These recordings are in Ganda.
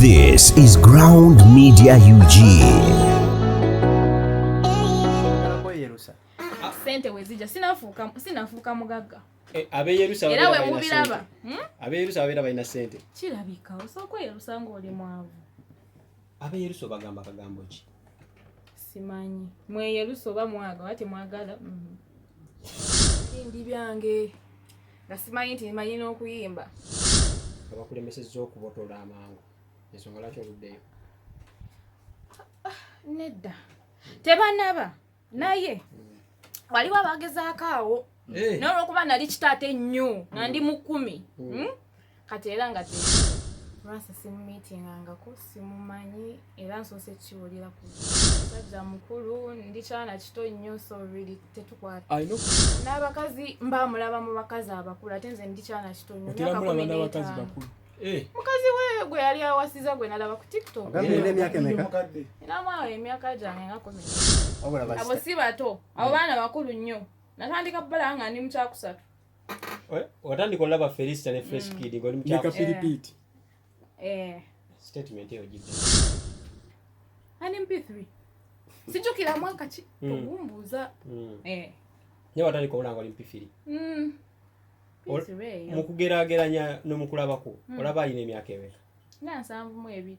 This is Ground Media UG. Sente wezija sinafuuka sinafuuka mugagga. Eh, abe Yerusa era we mubiraba. Hmm? Abe Yerusa abera balina sente. Kirabika osoko Yerusa ng'oli mwavu. Abe Yerusa bagamba kagambo ki? Simanyi. Mwe Yerusa oba mwaga wate mwagala. Mm. Ndi byange. nga simanyi nti manyi n'okuyimba nga bakulemesezza okubotola amangu ensonga lwaki oluddeyo nedda tebanaba naye hmm. waliwo abagezaako awo eh. nolwokuba nali kitaate nnyo nga ndi mu kkumi hmm. Hmm? kati era nga te lwasa simumitingangako simumanyi era nsoose kiwulira ku musajja mukulu ndi kyana kito nnyo so really tetukwata n'abakazi mba mulaba mu bakazi abakulu ate nze ndi kyana kito nnyo myaka kumi n'etaano Eh. mukazi we gwe yali awasiza gwe nalaba ku tiktok namwawo emyaka gyange ngakomi abo si bato abo baana bakulu nnyo natandika bala nga ndi mukyakusatu Eh, watandika olaba felista ne fresh mm. kid ngoli mukyakapiripiiti eh. eh. statement eyo gidde ani mp3 sijukira mwaka ki mm. ogumbuuza mm. naye watandika olaba ngoli mp3 mukugerageranya nomukulabako olaba alina emyaka emeka nga nsanvu mu ebiri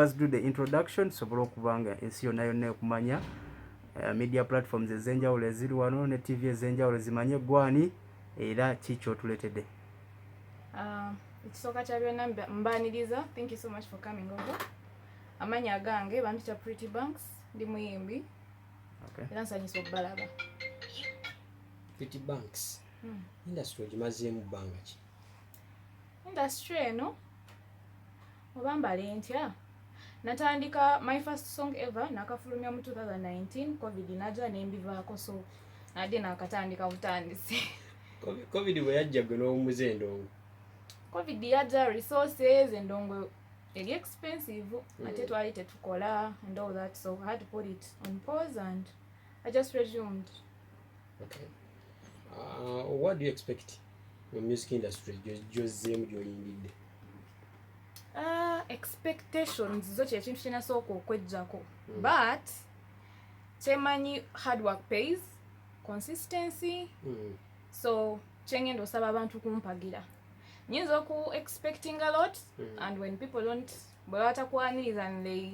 first do the introduction tusobole okuba nga ensi yonna yonna ekumanya uh, media platforms ez'enjawulo eziri wano ne tv ez'enjawulo zimanye gwani era ki kyotuletedde Ah, ekisooka kya byonna mbaniriza thank you so much for coming over amanyi agange bampita pretty banks ndi muyimbi era nsanyisa okubalaba pretty banks hmm. industry ogimazeemu bbanga ki industry eno oba mbale ntya natandika my first song ever nakafulumya mu 2019 covid naja nembivaako so nadde nakatandika butandisi covid bwe yajja gwe n'omuze endongo covid yajja resources endongo eri expensive mm. ate twali tetukola and all that so i had to put it on pause and i just resumed okay. uh, what do you expect mu music industry gyozzeemu gyoyingidde Uh, expectations zo kyekintu kyenasooka okwejjako mm. but kyemanyi hard work pays consistency mm. so kyengenda osaba abantu kumpagira nyinza oku expecting a lot mm. and when people don't bwebatakwaniriza and they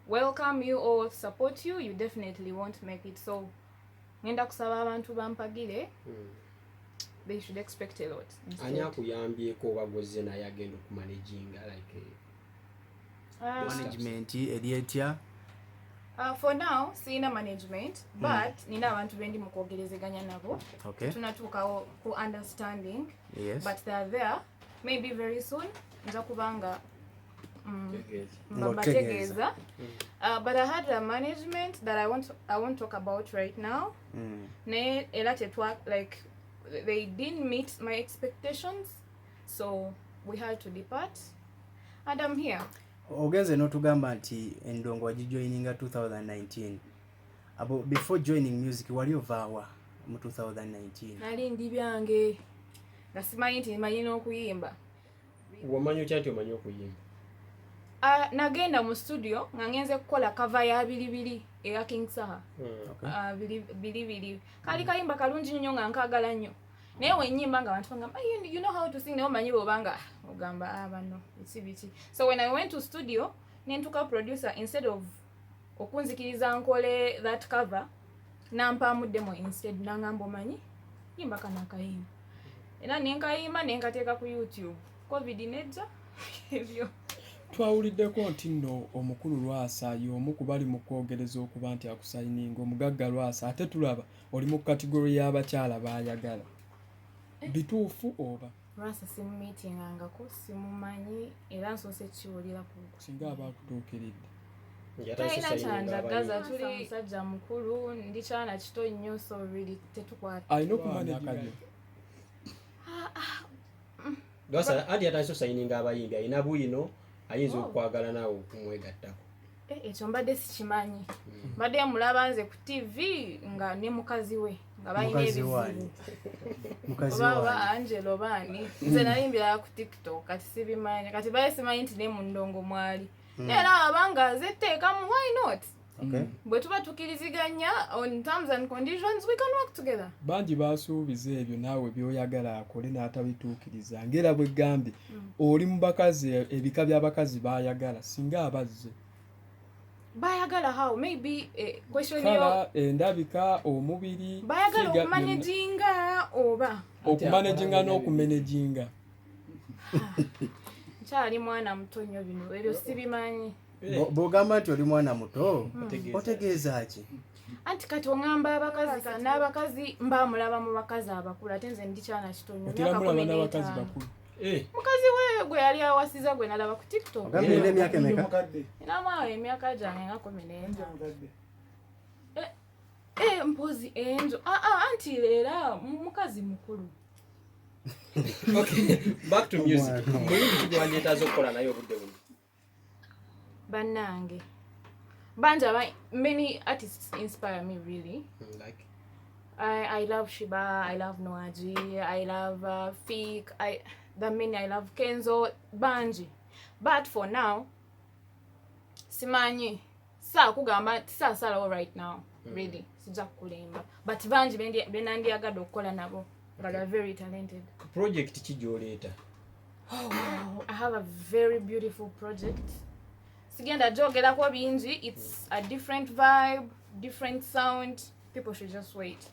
welcome you or support you you definitely won't make it so ngenda kusaba abantu bampagire hmm. they should expect a lot ani akuyambyeko oba gwezze naye agenda okumanaginga like eh, ah. management eri etya Uh, for now sirina management hmm. but mm. nina abantu bendi mukwogerezeganya nabo okay. tunatuukawo ku understanding yes. but they're there maybe very soon nza kubanga mbabategeeza mm. mm. uh, but i had a management that i won't, I won't talk about right now mm. naye era tetwa like they didn't meet my expectations so we had to depart and i'm here ogenze notugamba nti endongo wagijoininga 2019 abo before joining music wali ovaawa mu 2019 nali ndi byange nga simanyi nti manyi n'okuyimba Wamanya otya nti omanyi okuyimba? Uh, nagenda mu studio nga ngenze kukola kava ya bilibili eya King Saha. Mm, okay. uh, ah, bilibili kali kayimba kalungi nnyo nga nkagala nnyo naye wenyimba nga abantu bangamba you, you know how to sing naye omanyi bwobanga ogamba ah, bano eki biki so when i went to studio nentuka producer instead of okunzikiriza nkole that cover nampaamu demo instead nangamba omanyi yimba kano akayimba era nenkayimba nenkateeka ku youtube covid nejja ebyo twawuliddeko nti nno omukulu lwasa y'omu ku bali mu kwogereza okuba nti akusayininga omugagga lwasa ate tulaba oli mu kategori y'abakyala baayagala bituufu oba lwasa simumiitingangako simumanyi era nsoose kukiwulira kusinga aba akutuukiridde talina kyandagaza tuli musajja mukulu ndi kyana kito nnyo so really tetukwata alina okumanekayo lwasa adi atandise osayininga abayimbi alina bwino ayinza oh. okwagala naawe okumwegattako eh, ekyo mbadde sikimanyi mm. mbadde mulaba nze ku tv nga ne mukazi we nga balina ebizibu oba angelo baani nze nayimbira ku tiktok kati sibimanyi kati baye simanyi nti ne mu ndongo mwali hmm. naye era abanga zetteekamu why not Okay. Mm. bwe tuba tukiriziganya on terms and conditions we can work together bangi basuubiza ebyo naawe byoyagala akole n'atabituukiriza ngera bwe gambye mm. oli mu bakazi ebika by'abakazi baayagala singa abazze bayagala how maybe eh, question yo endabika eh, omubiri bayagala okumanaginga oba okumanaginga n'okumanaginga nkyali mwana muto nnyo bino ebyo sibimanyi bwogamba nti oli mwana muto hmm. otegeeza ki anti kati oŋamba abakazi n'abakazi mbamulaba mu bakazi abakulu ate nze ndikyana kitonyo Eh. Mukazi wewe gwe yali awasiza gwe nalaba ku TikTok. Ogambe ile miaka emeka? Ina mwa emyaka jange nga 14. Eh, eh mpozi enzo. Ah ah anti lera mukazi mukulu. okay, back to music. Muyimbi kigwanjetaza okukola naye obudde buno. banange bangi aba many artists inspire me really mm, like I, I love Shiba, I love Noaji, I love uh, Fik, I, the many, I love Kenzo, Banji. But for now, simanyi saa kugamba tisaasalawo right now mm. really sijja kukulemba but bangi benandyagadde okukola nabo nga okay. very talented project ki gyoleeta oh, wow. i have a very beautiful project sigenda gyogerako bingi its a different vibe different sound people should just wait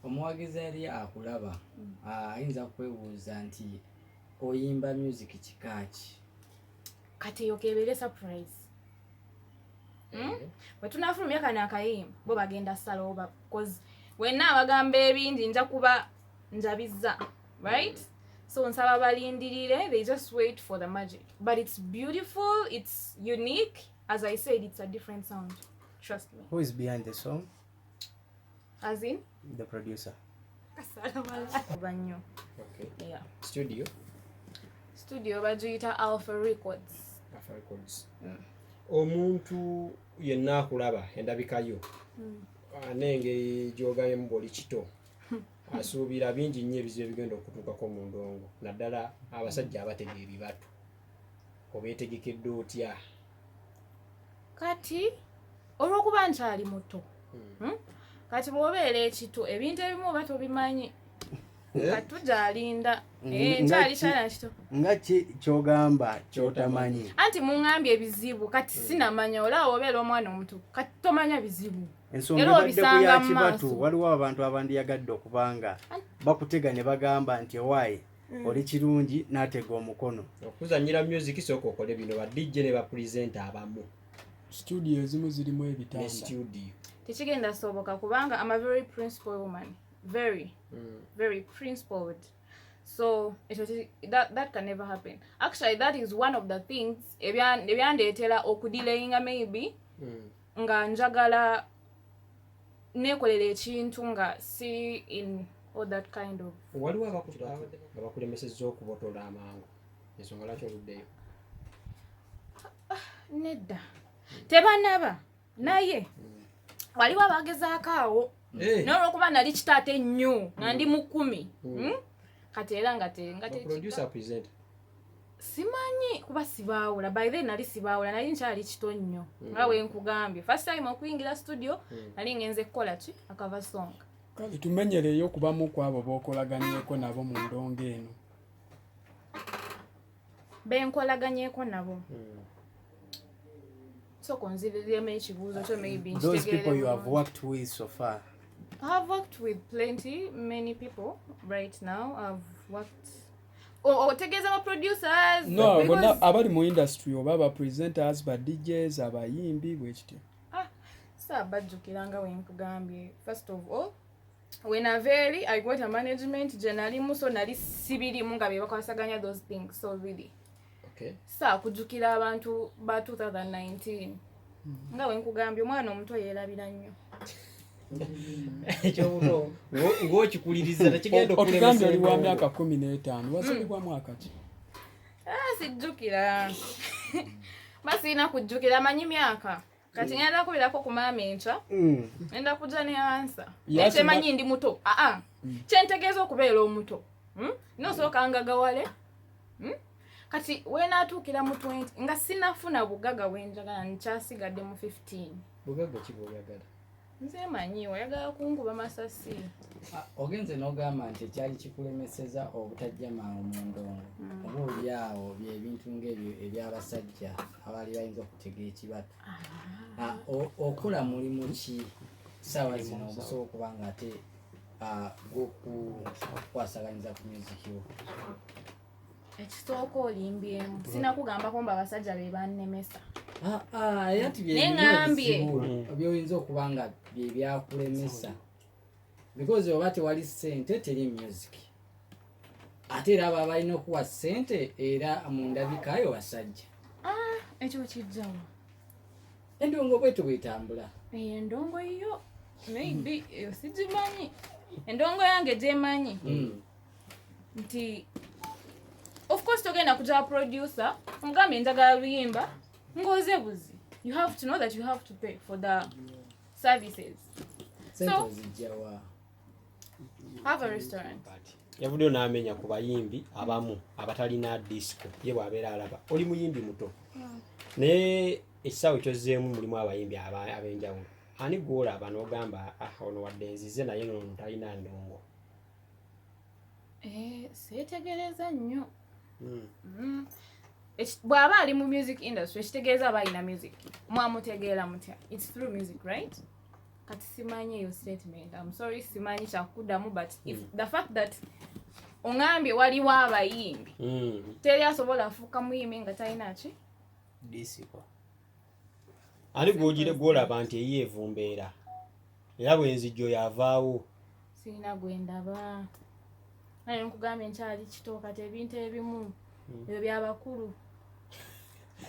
omuwagizi yali akulaba mm. ayinza kwebuuza nti oyimba music kikaaki kati eyo kebeere surprise hmm? eh. bwe tunafulumya kano akayimba bo bagenda salooba bcause wenna abagamba ebingi nja kuba njabizza right mm. so nsaba balindirire they just wait for the magic but it's beautiful it's unique as i said it's a different sound trust me who is behind the song As in? The producer. Banyo. Okay. Yeah. Studio. Studio bagiyita Alpha Records. Alpha Records. Mm. Omuntu yenna akulaba endabika yo mm. ah, n'engeri gy'ogabyemu bw'oli kito asuubira bingi nnyo ebizibu ebigenda okutuukako mu ndongo naddala abasajja abatega ebibatu obeetegekedde otya kati olwokuba nkyali muto hmm. Hmm? kati bwobeera ekitu ebintu ebimu oba tobimanyi eh? kati tujalinda mm, eh, nkyali kyana kito nga ki kyogamba kyotamanyi anti muŋambye ebizibu kati hmm. sinamanya olaba obeera omwana omuto kati tomanya bizibu ensongaebaddekuyakibatu waliwo abantu abandiyagadde okubanga bakutega ne bagamba nti owaayi mm. oli kirungi natega omukono okuzanyira music soka okole bino ba dj ne ba presenter abamu studio ezimu zirimu ebitanda studio tekigenda soboka kubanga am a very principal woman very mm. very principled so it was, that, that can never happen actually that is one of the things ebyandeetera okudilayinga maybe mm. nga njagala nekolera ekintu nga si in all that kind of waliwo abakulemesezza okubotola amangu ensonga lwaki oluddeyo nedda tebanaba naye mm. waliwo abagezaako awo eh. nolwokuba nali kitaate nnyo nga ndi mukumi mm. hmm? kati era nga te nga te simanyi kuba sibaawula by then nali sibaawula nali nkyali kito nnyo hmm. nga we nkugambye first time okuyingira studio hmm. nali ngenze kukola ki akava song kale tumenyereyo okubamu ku abo b'okolaganyeko nabo mu ndongo eno benkolaganyeko nabo hmm. sooka onziririremu ekibuuzo kyo maybe those people you have worked with so far I have worked with plenty many people right now I've worked otegeeza ba producers no bonna abali mu industry oba ba presenters ba djs abayimbi bwekityo ah, saabajjukira nga wenkugambye first of all when a very i got a management gye nalimu so nali sibirimu nga bebakwasaganya those things so really saa kujjukira abantu ba 2019 mm-hmm. nga wenkugambye omwana omuto yeerabira nnyo ng'okikulirizaotugambye oli wa myaka kumi n'etaano wazalibwa mm. mwaka ki ah, sijjukira basiina kujjukira amanyi myaka kati mm. ngenda kubirako ku maama enkya mm. ngenda kujja ne ansa naye kyemanyi ndi muto aa ah, ah. mm. kyentegeeza okubeera omuto hmm? nosooka ngagawale hmm? kati wenaatuukira mu 20 nga sinafuna bugaga bwenjagala nkyasigadde mu 15 bugaga kiboyagala nze manyi oyagala kunkuba masasi ah, ogenze n'ogamba nti ekyali kikulemeseza obutajja mangu mu ndongo mm. oba oli awo byebintu ngaebyo ebyabasajja abaali bayinza okutega ekibatu ah. ah, okola mulimu ki saawa zino ogusobola okuba nga ate gwokukwasaganyza ku muziki wo ekisooka olimbyemu sinakugambako mba abasajja be bannemesa ah, ah, neŋambye byoyinza okuba nga byebyakulemesa because oba tewali sente teri music ate era aba balina okuwa sente era mundabikayo basajja ah, ekyo kijjawa endongo bwetu bwetambula eyo endongo yo maybe sigimanyi endongo yange gyemanyi hmm. nti of course togenda kutaba producer omugambye njagala luyimba ngoze buzi you have to know that you have to pay for the services so have a restaurant yavuddeyo n'amenya ku bayimbi abamu abatalina disco ye bw'abeera alaba oli muyimbi muto hmm. naye ekisaawe kyozzeemu mulimu abayimbi ab'enjawulo ani gwolaba n'ogamba ah, ono wadde nzize naye nono talina ndongo Eh, seetegereza nnyo hmm. Hmm. bw'aba ali mu music industry ekitegeeza aba alina music mwamutegeera mutya its through music right kati simanyi eyo statement am sorry simanyi kyakuddamu but if hmm. the fact that ongambye waliwo abayimbi teri asobola afuuka muyimbi nga talina ki disiko ani gwogire gwolaba nti eyo evumbeera era bwenzijjo yavaawo sirina gwendaba naye nkugambye nkyali kito kati ebintu ebimu hmm. ebyo byabakulu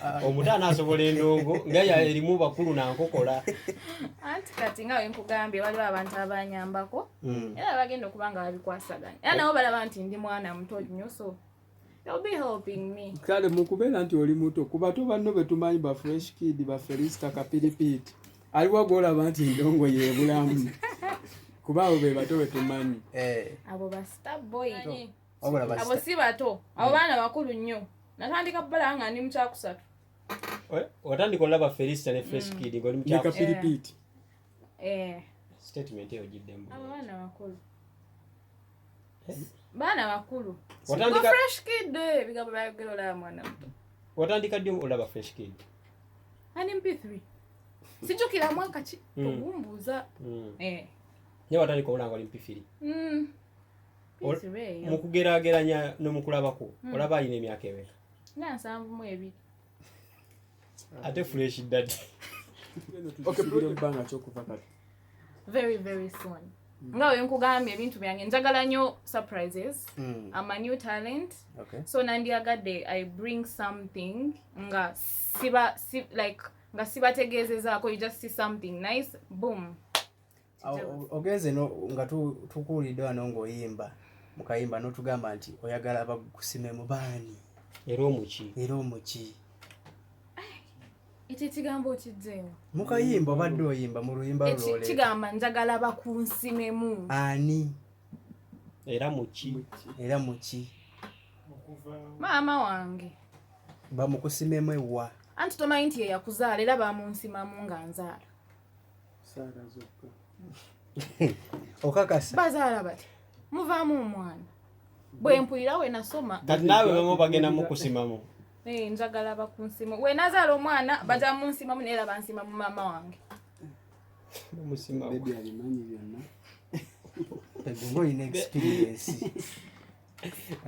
ah. omuto anaasobola endongo nga erimu bakulu nankokola anti kati nga wenkugambye waliwo abantu abanyambako hmm. era bagenda okuba nga babikwasaganya era nabo balaba nti ndi mwana muto nnyo so kale mukubeera nti oli muto kuba to banno betumanyi ba fresh kid ba felista kapiripiit aliwo gwolaba nti endongo yebulamu kuba abo be bato betumanyi eh. abo si bato abo hmm. baana bakulu nnyo natandika bala nga ndi mukyakusatu watandika olaba felista ne fresh hmm. kid ngoli mukyakusatu eh. eh. statement eyo giddemu abo baana bakulu baana bakulu fresh kid eh, ebigambo byayogera olaba mwana muto watandika ddi olaba fresh kid ani mp3 sijukira mwaka ki hmm. ogumbuuza hmm. eh. naye watandika olaba nga oli mp3 hmm. mu kugeraageranya nomukulabako olaba alina emyaka emeka nga nsanvu mu ebiri ate fresh dadi okbanga kyokuva kati very very soon mm. nga wenkugambye ebintu byange njagala nyo surprises mm. am a new talent okay. so nandiyagadde i bring something nga siba si, like nga sibategeezezaako you just see something nice boom ogenze nga tukuwulidde wano ng'oyimba mukayimba n'otugamba nti oyagala bakusime mu baani era omuki era omuki ekyo ekigambo okijjeewo mukayimba obadde oyimba mu luyimba lwole kigamba njagala bakunsimemu ani era muki era muki maama wange bamukusimemu ewa anti tomanyi nti yeyakuzaala era bamunsimamu nga nzaala okakasa bazaala bati muvaamu omwana bwe mpulira we nasoma kati naawe bamu bagenda mukusimamu eh, njagala bakunsimu we nazaala omwana baja munsimamu naye era bansimamu maama wange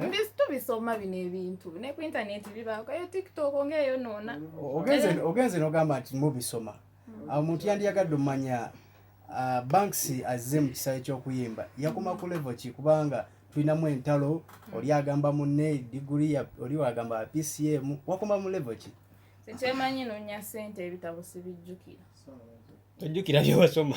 mbisi tubisoma bino ebintu ne ku intaneti bibaako eyo tiktok ngaeyonoona ogenze nogamba nti mubisoma hmm. awo omuntu yandiyagadde omumanya ah, banks azze mu kisaawe ky'okuyimba yakoma ku levo ki kubanga tulinamu entalo hmm. oli agamba munne diguli oli wagamba pcm wakoma mu levo ki ekyemanyi nonya sente ebitabo sibijjukira tojjukira byewasoma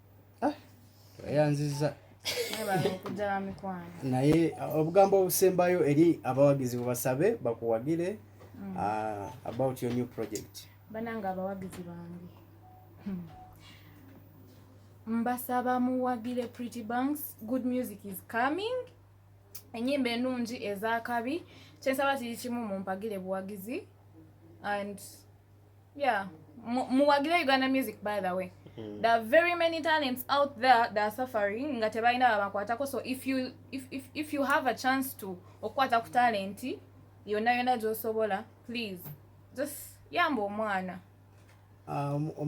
ah, tweyanziza naye uh, obugambo obusembayo eri abawagizi bubasabe bakuwagire mm. uh, about your new project bananga abawagizi bange hmm. mbasaba muwagire pretty banks good music is coming enyimba enungi ezakabi kyensaba kiri kimu mumpagire buwagizi and yeah muwagire uganda music by the way mm. there are very many talents out there that are suffering nga tebalina babakwatako so if you, if, if, if you have a chance to okukwata ku talenti yonna yonna gyosobola please just yamba omwana um, um,